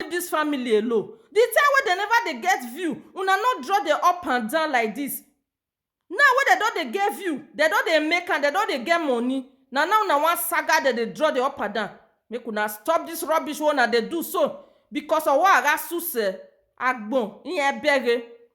leave dis family alone the time wey dem never dey get view una no draw dem up and down like dis now wey dem don dey get view dem don dey make am dem don dey get money na now una wan saga dem dey draw dem up and down make una stop dis rubbish wey una dey do so because owo ara suse agbon iyan bere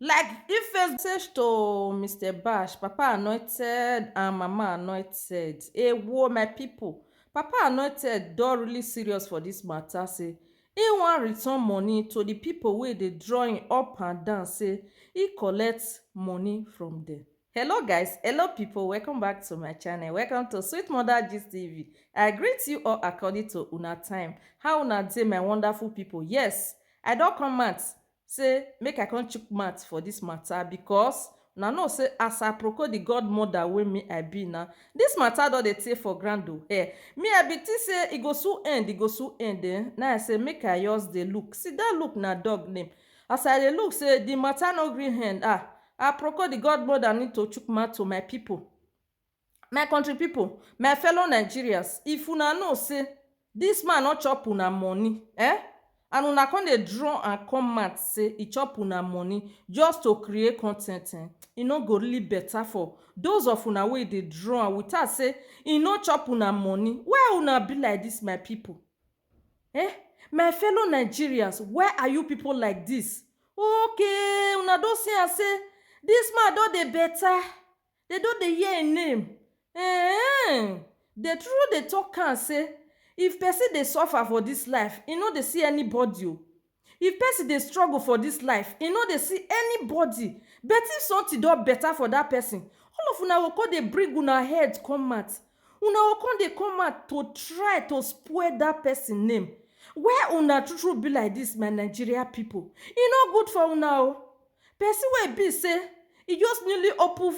Like if Facebook. Message to Mister Bash, Papa Anointed and Mama Anointed, ewo my people, Papa Anointed don really serious for this matter say he wan return money to the people wey dey draw him up and down say he collect money from them. Hello guys, hello people, welcome back to my channel, welcome to Sweet Mother Gist TV. I greet you all according to una time. How una dey my wonderful people? Yes, I don come out say make I come chook mouth for this matter because una know say as Aproko the godmother wey me I be now, this matter don dey tey for ground o eh. Me I be think say e go soon end, e go soon end eh, na I say make I just dey look, see that look na dog name. As I dey look say the matter no gree end ah, Aproko the godmother need to chook mouth to my people. My country people, my fellow Nigerians, if una know say this man no chop una money eh, and una come dey draw and come mouth say e chop una money just to create content eh, e no go really better for those of una wey dey draw am without say e no chop una money. Why una be like this my people eh, my fellow Nigerians why are you people like this? Okay una don see am say this man don dey better, Dem don dey hear im name eehn. Dem tru tru dey talk am say if pesin dey suffer for dis life, e no dey see anybody o. If pesin dey struggle for dis life, e no dey see anybody. But if something don better for dat pesin, all of una go come dey bring una head come out. Una go come dey come out to try to spoil dat pesin name. Why una tru tru be like dis my Nigeria pipu? E no good for una o. Pesin wey e be sey e just newly open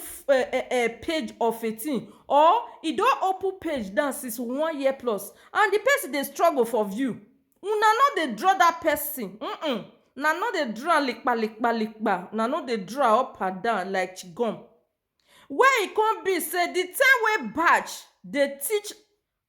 page of a tin or e don open page now since one year plus and di pesin dey struggle for view, una no dey draw dat pesin um una no dey draw am likpa likpa likpa, una no dey draw am up and down like chewing gum. Why e come be say the time wey Baj dey teach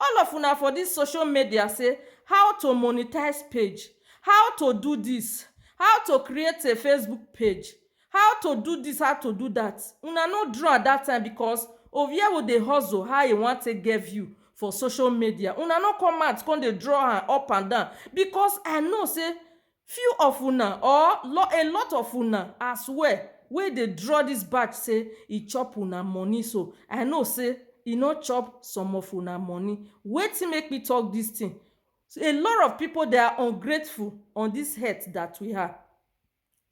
all of una for this social media say how to monetize page, how to do this, how to create a Facebook page, how to do this, how to do that, una no draw am that time because Oviewu dey hustle how e wan take get view for social media, una no come out come dey draw am up and down because I know say Few of una or lo a lot of una as well wey dey draw this batch say e chop una money so I know say e no chop some of una money wetin make me talk this thing a lot of people they are ungrateful on this earth that we are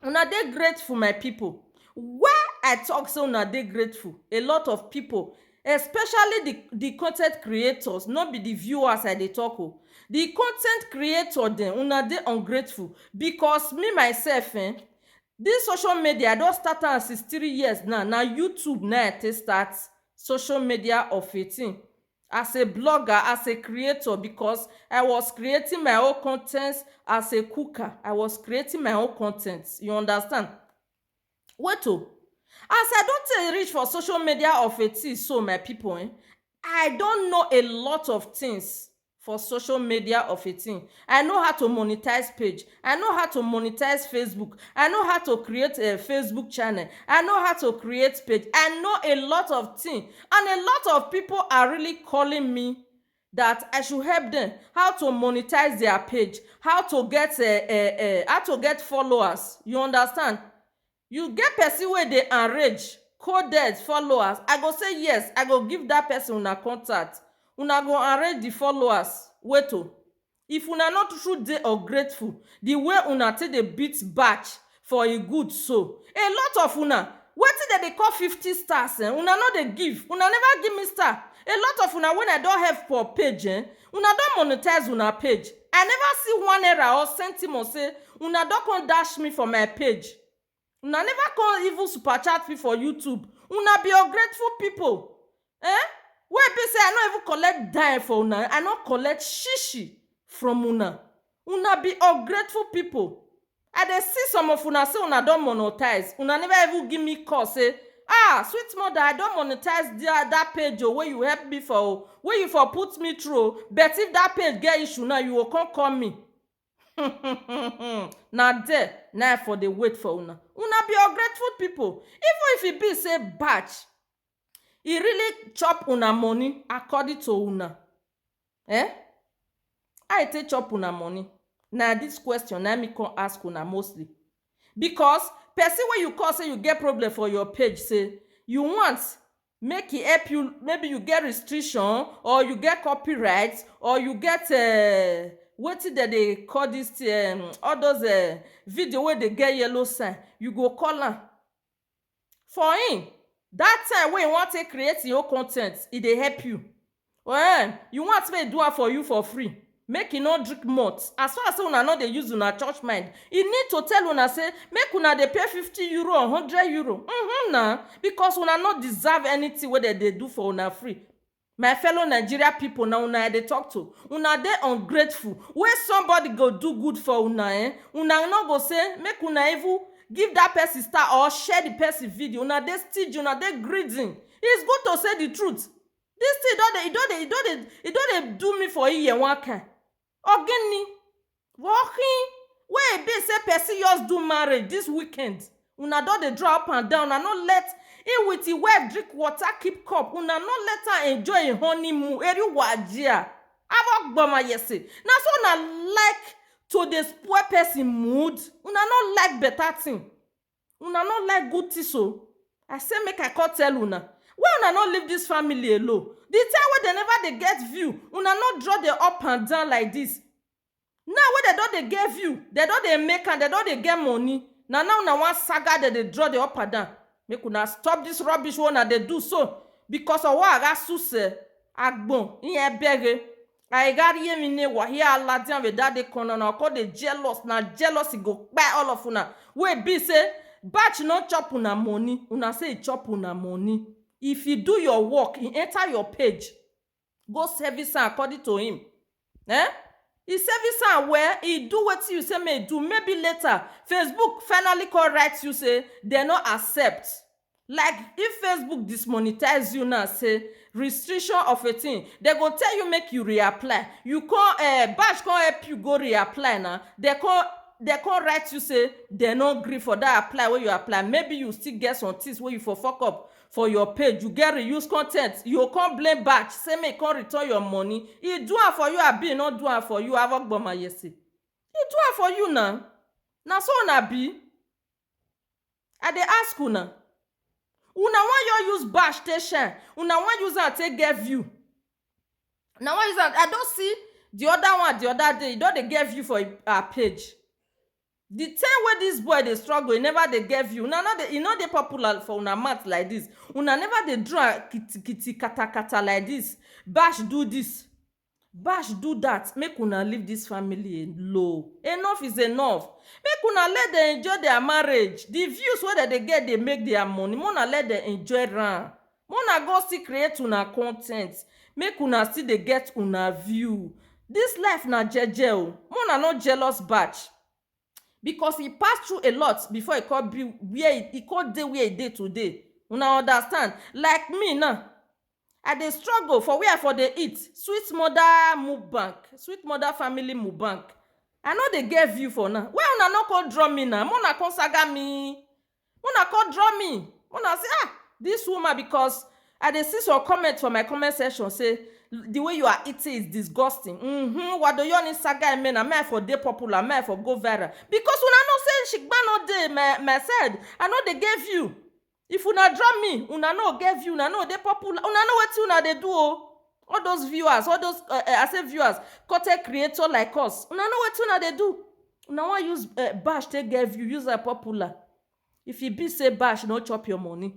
una dey grateful my people why I talk say una dey grateful a lot of people Especially the the content creators, no be the viewers I dey talk o. The content creator dem, una dey ungrateful because me myself eh, this social media I don start am since three years now, na YouTube na I take start social media of a thing as a blogger, as a creator because I was creating my own content as a cooker, I was creating my own content, you understand. Wait o, as I don tey reach for social media of a thing so my people um, I don know a lot of things for social media of a thing. I know how to monetize page, I know how to monetize Facebook, I know how to create a Facebook channel, I know how to create page, I know a lot of thing and a lot of people are really calling me that I should help them how to monetize their page, how to get uh, uh, uh, how to get followers. You understand? You get person where they enrage, coded followers. I go say yes, I go give that person una contact. Una go enrage the followers. Wait to. Oh. If una no tru tru dey ungrateful di way una take dey beat batch for e good so, a lot of una wetin dem dey call fifty stars ehn una no dey give, una never give me star, a lot of una wen I don help for page ehn una don monetize una page, I never see one naira or centimon say una don come dash me for my page. Una never come even super chat me for YouTube. Una be ungrateful people. Eh? Wey be say I no even collect dime for una. I no collect shishi from una. Una be ungrateful people. I dey see some of una say una don monetize. Una never even give me call say, ah, sweet mother, I don monetize that, that page o wey you help me for o, wey you for put me through o. But if that page get issue now, you go come call me. na there na I for dey wait for una. Una be ungrateful pipu. Even if e be sey batch e really chop una money according to una um how e take chop una money? Na dis question na me come ask una mostly because person wey you call sey you get problem for your page sey you want make e help you maybe you get restriction or you get copyright or you get um wetin dem dey call this thing um all those um video wey dey get yellow sign you go call am for him that time wey e wan take create him own con ten t e dey help you Well, you want make e do am for you for free, make e no drink malt. As far as say una no dey use una church mind, e need to tell una say make una dey pay fifty euro or hundred euro. Mm-hmm na, because una no deserve anything wey dem dey do for una free. My fellow Nigeria people, na una I dey talk to. Una dey ungrateful. Wey somebody go do good for una eh, una no go say make una even give that person star or share the person video. Una dey stingy, una dey greedy. It's good to say the truth. This thing don dey, e don dey, e don dey, e don dey do me for ear one kind. Ogini, walking wey e be say person just do marriage this weekend, una don dey draw up and down, una no let him with him wife drink water keep cup, una no let am enjoy him honeymoon, eri wa jia, abo gboma yese, na so una like to dey spoil person mood, una no like better thing. Una no like good things o. I say make I come tell una. Why una no leave this family alone? The time wey dem never dey get view, una no draw dey up and down like this. Now wey dem don dey get view, dem don dey make am, dem don dey get money, na now una wan saga dem dey draw dey up and down. Make una stop this rubbish wey una dey do so because ọwọ́ àrá súsẹ̀, agbọ̀n, iyẹn bẹ̀rẹ̀. I got hear me ne wahi aladian we that dey corner na come dey jealous na jealousy go kpai all of una wey be say batch no chop una money una say e chop una money if e do your work e enter your page go service am according to him eh e service am well e do wetin you say make e do maybe later Facebook finally come write you say dem no accept Like if Facebook dismonetize you now say restriction of a thing, dem go tell you make you reapply, you come um bank come help you go reapply na, dem come dem come write you say dem no gree for that apply wey you apply, maybe you still get some things wey you for fuck up for your page, you get reuse content, you go come blame bank say make e come return your money, e do am for you abi e no do am for you? Avogboma yese, e do am for you na, na so una be? I dey ask una. Una wan yo use bash take shine, una wan use am take get view. Una wan use am, I don see di oda one di oda day, e don dey get view for im her page. Di time wey dis boy dey struggle, e neva dey get view, una no dey, e no dey popular for una mouth like dis, una neva dey do am kitikiti, katakata like dis, bash do dis. Bash do that make una leave this family alone enough is enough make una let dem enjoy their marriage the views wey dem dey get dey make their money make una let dem enjoy am make una go still create una content make una still dey get una view this life na jeje oo make una no jealous batch. because e pass through a lot before e come be where e e come dey where e dey today una understand like me now I dey struggle for where I for dey eat sweet mother mukbang sweet mother family mukbang I no dey get view for now why una no come draw me now make una come saga me una come draw me una say ah this woman because i dey see some comment for my comment section say the way you are eating is disgusting mm-hmm wadoyoni saga emena may i for dey popular may i for go viral because una know say shigba no dey my my side i no dey get view if una draw me una no get view una no dey popular una know wetin una dey do o all those viewers all those uh, uh, i say viewers content creator like us una know wetin una dey do una wan use um bash take get view use am popular if e be say bash no chop your money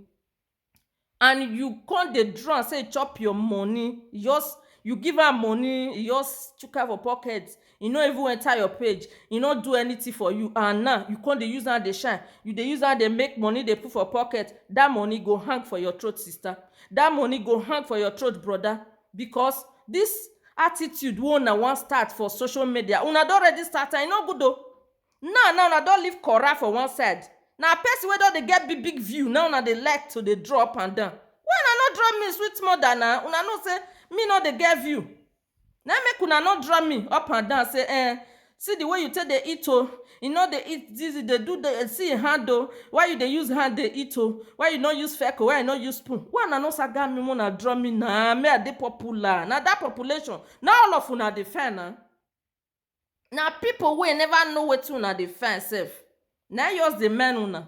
and you come dey draw am say e chop your money e just you give am money e just chuck am for pocket e no even enter your page e no do anything for you and now you come dey use am dey shine you dey use am dey make money dey put for pocket that money go hang for your throat sister that money go hang for your throat brother Because this attitude wey una wan start for social media, una don already start am, e no good o. Now now una don leave Kora for one side. Na person wey don dey get big big view na im una dey like to dey draw up and down. Why una no draw me sweet mother na? Una know say me no dey get view. Na im make una no draw me up and down say eh See the way you take dey eat oh, you no dey eat this, you dey do the, see your hand oh, why you dey use hand dey eat oh, why you no use feck oh, why you no use spoon, why una no saga me make una draw me na, me I dey popular, na that population na all of una dey find na, na people wey never know wetin una dey find sef na im just dey mend una.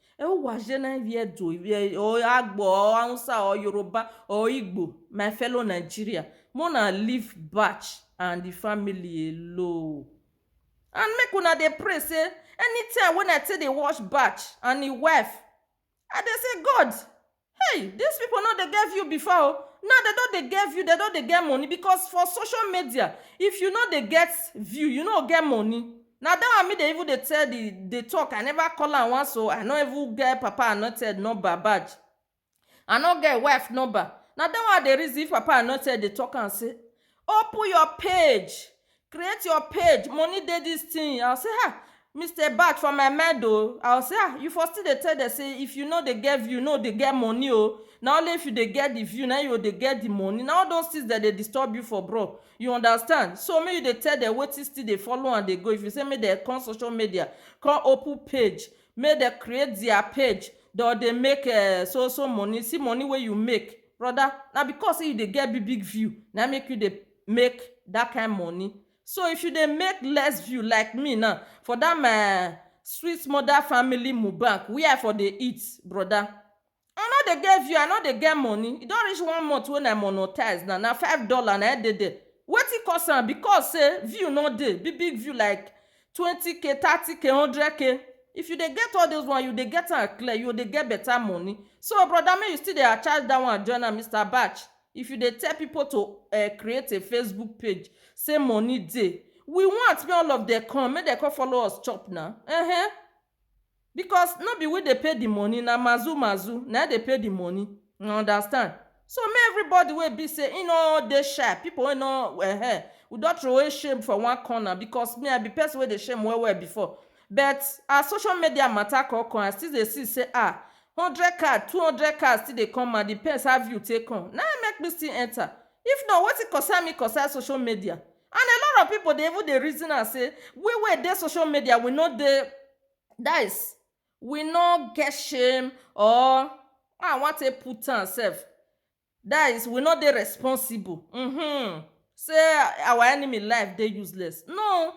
ẹ ó wà ṣe náà ibi ẹ̀dọ̀ ọ àgbọ̀ ọ hausa ọ yorùbá ọ igbo my fellow nigeria mo na leave batch and the family alone and make una dey pray say anytime when i take dey watch batch and him wife i dey say god Hey, dis pipo no dey get view before o, now dem don dey get view, dem don dey get money because for social media if you no dey get view, you no go get money. Na dat one me dey even dey tell di dey talk, I never call am once o, I no even get Papa Anointed number, badge, I no get im wife number, na dat one I dey reason if Papa Anointed dey talk am sey open your page, create your page money dey this thing i say ah Mister Bach for my mind o i say ah you for still dey tell them say if you no dey get view no dey get money o na only if you dey get the view na you go dey get the money na all those things dem dey disturb you for bro you understand so make you dey tell them wetin still dey follow am dey go if you say make dem come social media come open page make dem create their page dem go dey make um so so money see money wey you make brother na because say you dey get big big view na him make you dey make that kind money so if you dey make less view like me now for that my sweet mother family mukbang where i for dey eat brother i no dey get view i no dey get money e don reach one month wey i monetize now na five dollar na im dey there wetin cause am because say view no dey big big view like twenty k thirty k hundred k if you dey get all those one you dey get am clear you go dey get better money so brother make you still dey attach that one join am Mister Baj. If you dey tell people to um create a Facebook page say money dey, we want make all of dem come make dem come follow us chop na um because no be we dey pay the money na mazu mazu na im dey pay the money you understand so make everybody wey e be say im no dey shy people wey no um we don throway shame for one corner because me I be person wey dey shame well well before But as social media matter con come, I still dey see say ah, hundred card, two hundred card still dey come and depends how view take come. Na im make me still enter. If not, wetin concern me concern social media? And a lot of people dey even dey reason am say we wey dey social media we no dey, that is, we no get shame or how I wan take put am sef? That is, we no dey responsible uhmm say our enemy life dey useless. No,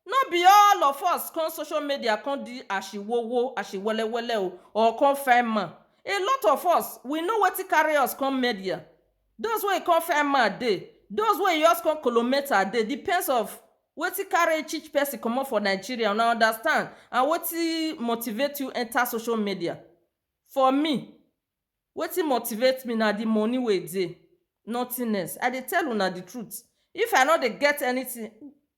no be all of us come social media come di ashiwowo, ashiwelewele o or come find man. A lot of us, we know wetin carry us come media. Those wey e come find man dey, those wey e just come kolometer dey, depends of wetin carry each person comot for Nigeria, una understand and wetin motivate you enter social media. For me, Wetin motivate me na the money wey dey, nothing else. I dey tell una the truth. If I no dey get anything,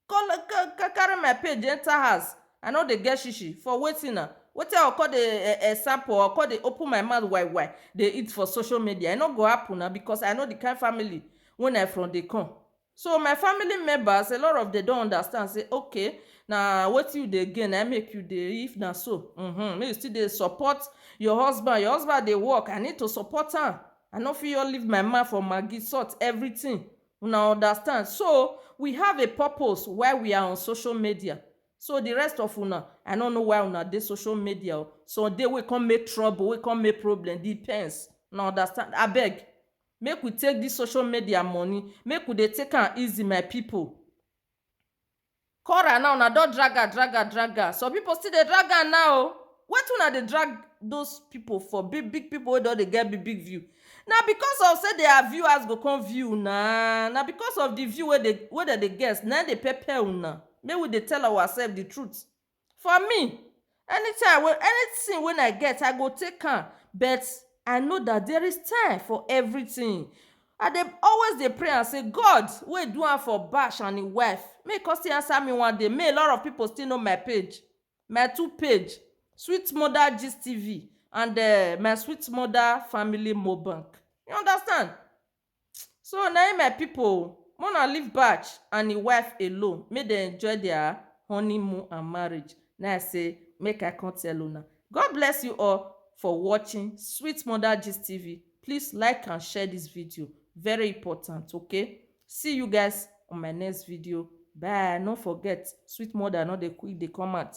carry my page enter house. I no dey get shishi for wetin na? Wetin I go con dey sample or con dey open my mouth wai-wai dey eat for social media? E no go happen na because I know the kind family wey I from dey come. So my family members a lot of dem don understand say okay na wetin you dey gain na im make you dey if na so mhm make you still dey support your husband your husband dey work I need to support am I no fit just leave my man for maggi salt everything una understand so we have a purpose why we are on social media so the rest of una I no know why una dey social media o some dey wey come make trouble wey come make problem depends una understand abeg Make we take this social media money make we dey take am easy my people. Cora now una don drag am drag am drag am some people still dey drag am now o wetin una dey drag those people for big big people wey don dey get big big view na because of say their viewers go come view una na because of the view wey dey wey dem dey get na him dey pepper una make we dey tell ourselves the truth For me, anytime wey anything wey I get I go take am but I know that there is time for everything I dey always dey pray am say God wey do am for bash and him wife make he come still answer me one day make a lot of people still know my page my two page sweet mother gist TV and um my sweet mother family mo bank you understand So na im my people o, make una leave Baj and im wife alone make dem enjoy their honeymoon and marriage na I say make I come tell una. God bless you all for watching Sweet Mother Gist TV, please like and share this video very important okay, see you guys on my next video bye, no forget Sweet Mother no dey quick dey come out